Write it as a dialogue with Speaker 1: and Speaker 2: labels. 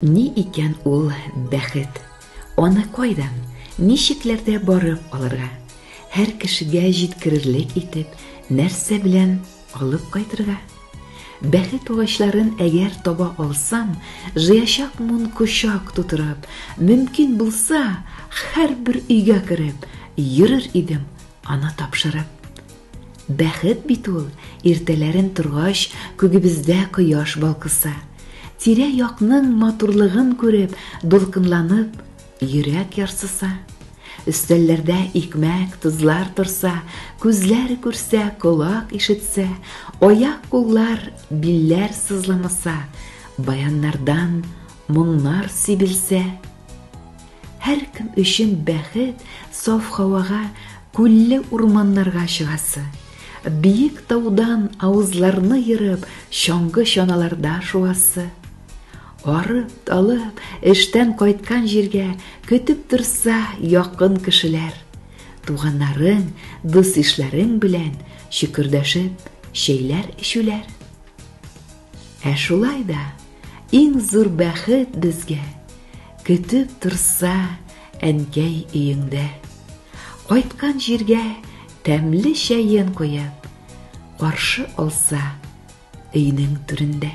Speaker 1: Ни икән ул бәхет? Аны кайдан, ничекләрдә барып алырга? Һәр кешегә җиткерерлек итеп, нәрсә белән алып кайтырга? Бәхет агачларын әгәр таба алсам, жыячак мун кочак тутырып, мөмкин булса, һәрбер өйгә кереп, йөрер идем, аны тапшырып. Бәхет бит ул, иртәләрен торгач, күгебездә кояш балкыса. Тирә-якның матурлыгын күреп, дулкынланып, йөрәк ярсыса. Өстәлләрдә икмәк, тозлар торса, күзләр күрсә, колак ишетсә, аяк-куллар, билләр сызламаса, баяннардан моңнар сибелсә. Һәркем өчен бәхет саф һавага, күлле урманнарга чыгасы, биек таудан авызларны ерып, чаңгы чаналарда шуасы. Арып, талып, эштән кайткан җиргә көтеп торса якын кешеләр. Туганнарың, дус-ишләрең белән чөкердәшеп, чәйләр эчүләр. Ә шулай да иң зур бәхет безгә Көтеп торса әнкәй өеңдә. Кайткан җиргә тәмле чәен куеп, Каршы алса өйнең түрендә.